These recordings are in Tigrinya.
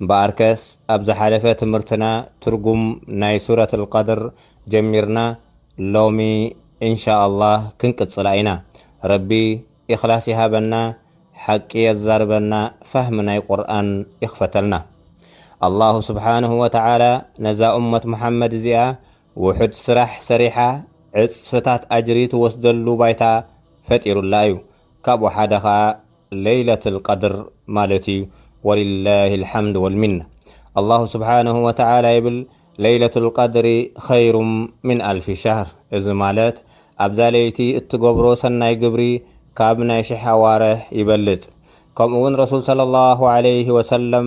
እምበኣርከስ ኣብ ዝሓለፈ ትምህርትና ትርጉም ናይ ሱረት ኣልቀድር ጀሚርና ሎሚ እንሻኣላህ ክንቅጽላ ኢና። ረቢ ኢኽላስ ይሃበና ሓቂ የዛርበና ፋህሚ ናይ ቁርኣን ይኽፈተልና። ኣላሁ ሱብሓነሁ ወተዓላ ነዛ ኡመት ሙሓመድ እዚኣ ውሑድ ስራሕ ሰሪሓ ዕጽፍታት ኣጅሪ ትወስደሉ ባይታ ፈጢሩላ እዩ። ካብኡ ሓደ ኸኣ ለይለትል ቀድር ማለት እዩ ወሊላሂል ሓምድ ወልሚና ኣላሁ ስብሓነሁ ወተዓላ ይብል ለይለቱል ቀድሪ ኸይሩም ሚን ኣልፊ ሸህር እዚ ማለት ኣብዛ ለይቲ እትገብሮ ሰናይ ግብሪ ካብ ናይ ሽሕ ኣዋርሕ ይበልፅ ከምኡውን ረሱል ሰለሏሁ ዓለይሂ ወሰለም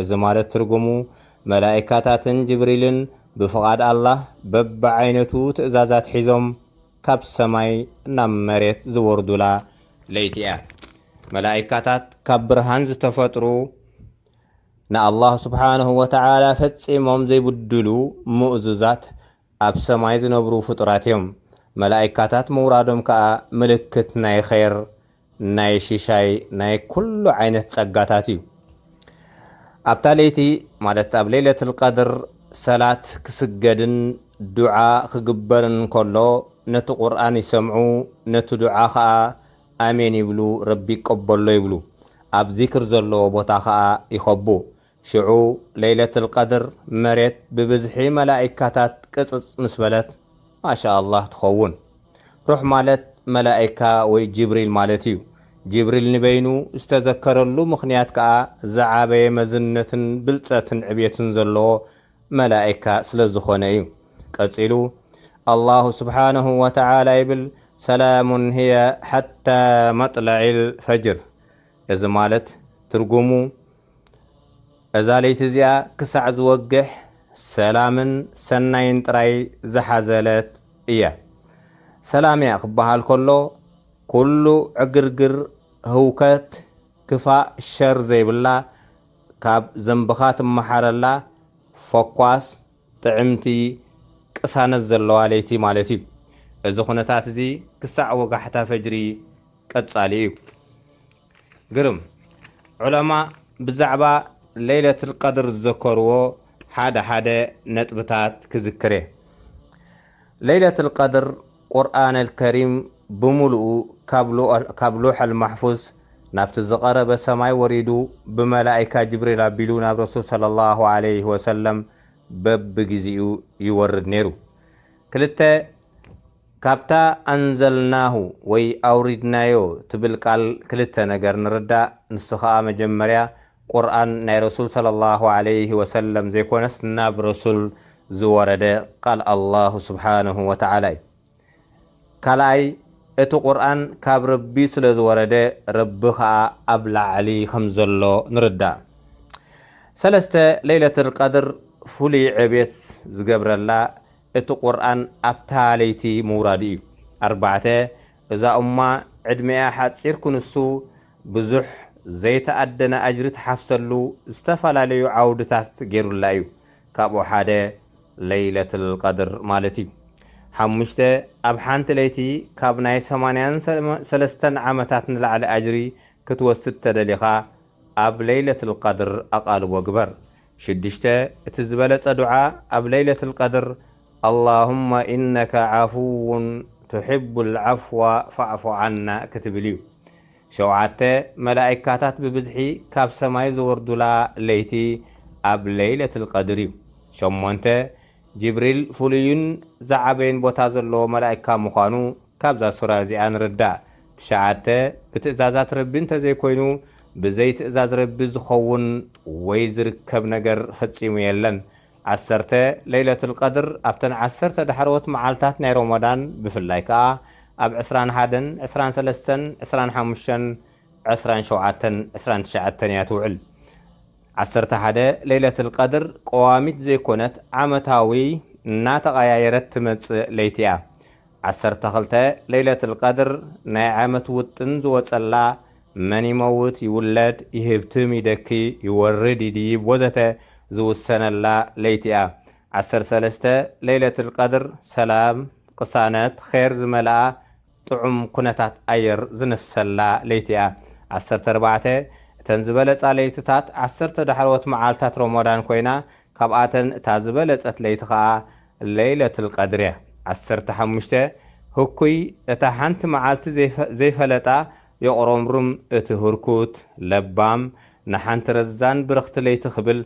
እዚ ማለት ትርጉሙ፣ መላኢካታትን ጅብሪልን ብፍቓድ ኣላህ በብዓይነቱ ትእዛዛት ሒዞም ካብ ሰማይ ናብ መሬት ዝወርዱላ ለይቲ እያ። መላኢካታት ካብ ብርሃን ዝተፈጥሩ ንኣላህ ሱብሓነሁ ወተዓላ ፈጺሞም ዘይብድሉ ምእዙዛት ኣብ ሰማይ ዝነብሩ ፍጡራት እዮም። መላኢካታት ምውራዶም ከኣ ምልክት ናይ ኼር፣ ናይ ሽሻይ፣ ናይ ኩሉ ዓይነት ጸጋታት እዩ። ኣብታ ለይቲ ማለት ኣብ ለይለቱል ቀድር ሰላት ክስገድን ዱዓ ክግበርን ከሎ ነቲ ቁርኣን ይሰምዑ ነቲ ዱዓ ከኣ ኣሜን ይብሉ ረቢ ይቀበሎ ይብሉ ኣብ ዚክር ዘለዎ ቦታ ከኣ ይኸቡ ሽዑ ለይለትል ቀድር መሬት ብብዝሒ መላኢካታት ቅጽጽ ምስ በለት ማሻኣላህ ትኸውን። ሩሕ ማለት መላኢካ ወይ ጅብሪል ማለት እዩ። ጅብሪል ንበይኑ ዝተዘከረሉ ምኽንያት ከኣ ዝዓበየ መዝነትን ብልጸትን ዕብየትን ዘለዎ መላኢካ ስለዝኾነ እዩ። ቀጺሉ ኣላሁ ስብሓነሁ ወተዓላ ይብል ሰላሙን ህየ ሓታ መጥለዒል ፈጅር እዚ ማለት ትርጉሙ፣ እዛ ለይቲ እዚኣ ክሳዕ ዝወግሕ ሰላምን ሰናይን ጥራይ ዝሓዘለት እያ። ሰላም እያ ክበሃል ከሎ ኩሉ ዕግርግር፣ ህውከት፣ ክፋእ፣ ሸር ዘይብላ ካብ ዘንብኻ ትመሓረላ ፈኳስ፣ ጥዕምቲ፣ ቅሳነት ዘለዋ ለይቲ ማለት እዩ። እዚ ኩነታት እዚ ክሳዕ ወጋሕታ ፈጅሪ ቀጻሊ እዩ። ግርም ዑለማ ብዛዕባ ለይለትል ቀድር ዝዘከርዎ ሓደ ሓደ ነጥብታት ክዝክር እየ። ለይለትል ቀድር ቁርኣነል ከሪም ብምሉኡ ካብ ሎሐል ማሕፉዝ ናብቲ ዝቐረበ ሰማይ ወሪዱ ብመላኢካ ጅብሪል ኣቢሉ ናብ ረሱል ሰለላሁ ዓለይሂ ወሰለም በብግዜኡ ይወርድ ነይሩ። ክልተ ካብታ ኣንዘልናሁ ወይ ኣውሪድናዮ ትብል ቃል ክልተ ነገር ንርዳእ ንሱ ከኣ መጀመርያ ቁርኣን ናይ ረሱል ሰለሏሁ ዓለይሂ ወሰለም ዘይኮነስ ናብ ረሱል ዝወረደ ቃል ኣላሁ ሱብሓነሁ ወተዓላ እዩ ካልኣይ እቲ ቁርኣን ካብ ረቢ ስለ ዝወረደ ረቢ ከኣ ኣብ ላዕሊ ከም ዘሎ ንርዳእ ሰለስተ ለይለትል ቀድር ፍሉይ ዕብየት ዝገብረላ እቲ ቁርኣን ኣብታ ለይቲ ምውራዱ እዩ። ኣርባዕተ፣ እዛ ኡማ ዕድሜኣ ሓጺር ክንሱ ብዙሕ ዘይተኣደነ ኣጅሪ ትሓፍሰሉ ዝተፈላለዩ ዓውድታት ጌሩላ እዩ። ካብኡ ሓደ ለይለትል ቀድር ማለት እዩ። ሓሙሽተ፣ ኣብ ሓንቲ ለይቲ ካብ ናይ ሰማንያን ሰለስተን ዓመታት ንላዕሊ ኣጅሪ ክትወስድ ተደሊኻ ኣብ ለይለትል ቀድር ኣቓልቦ ግበር። ሽዱሽተ፣ እቲ ዝበለጸ ዱዓ ኣብ ለይለቱል ቀድር፣ ኣላሁመ ኢነከ ዓፉዉን ቱሒቡል ዓፍዋ ፋዕፉ ዓና ክትብል እዩ። ሸውዓተ፣ መላኢካታት ብብዝሒ ካብ ሰማይ ዝወርዱላ ለይቲ ኣብ ለይለቱል ቀድር እዩ። ሸሞንተ፣ ጅብሪል ፍሉይን ዝዓበየን ቦታ ዘለዎ መላኢካ ምዃኑ፣ ካብዛ ሱራ እዚኣ ንርዳእ፣ ትሽዓተ፣ ብትእዛዛት ረቢ እንተዘይኮይኑ ብዘይ ትእዛዝ ረቢ ዝኸውን ወይ ዝርከብ ነገር ፈጺሙ የለን። ዓሰርተ፣ ለይለቱል ቀድር ኣብተን ዓሰርተ ዳሕረዎት መዓልታት ናይ ሮሞዳን ብፍላይ ከኣ ኣብ ዕስራን ሓደን ዕስራን ሰለስተን ዕስራን ሓሙሽተን ዕስራን ሸውዓተን ዕስራን ትሽዓተን እያ ትውዕል። ዓሰርተ ሓደ፣ ለይለቱል ቀድር ቀዋሚት ዘይኮነት ዓመታዊ እናተቐያየረት ትመጽእ ለይቲ እያ። ዓሰርተ ክልተ ለይለትል ቀድር ናይ ዓመት ውጥን ዝወጸላ መን ይመውት ይውለድ ይህብትም ይደኪ ይወርድ ይድይብ ወዘተ ዝውሰነላ ለይቲ እያ ዓሰርተ ሰለስተ ለይለትል ቀድር ሰላም ቅሳነት ኼር ዝመልኣ ጥዑም ኩነታት ኣየር ዝንፍሰላ ለይቲ እያ ዓሰርተ ኣርባዕተ እተን ዝበለጻ ለይትታት ዓሰርተ ዳሕረዎት መዓልታት ሮሞዳን ኮይና ካብኣተን እታ ዝበለጸት ለይቲ ከኣ ለይለትል ቀድርያ ዓሰርተ ሓሙሽተ ህኩይ እታ ሓንቲ መዓልቲ ዘይፈለጣ የቑረምርም እቲ ህርኩት ለባም ንሓንቲ ረዛን ብርኽቲ ለይቲ ክብል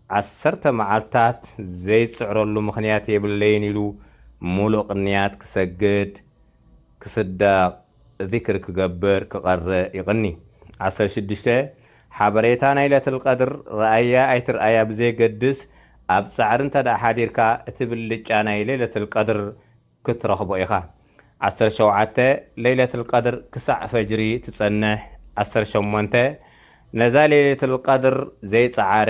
ዓሰርተ መዓልትታት ዘይጽዕረሉ ምኽንያት የብለይን ኢሉ ሙሉእ ቅንያት ክሰግድ ክስደቕ ዚክር ክገብር ክቐርእ ይቕኒ። ዓሰርተ ሽዱሽተ፣ ሓበሬታ ናይ ለትልቀድር ርኣያ ኣይትርኣያ ብዘየገድስ ኣብ ጻዕሪ እንተድኣ ሓዲርካ እቲ ብልጫ ናይ ለይለትልቀድር ክትረኽቦ ኢኻ። ዓሰርተ ሸውዓተ፣ ለይለትልቀድር ክሳዕ ፈጅሪ ትጸንሕ። ዓሰርተ ሸሞንተ፣ ነዛ ለይለትልቀድር ዘይጸዓረ፣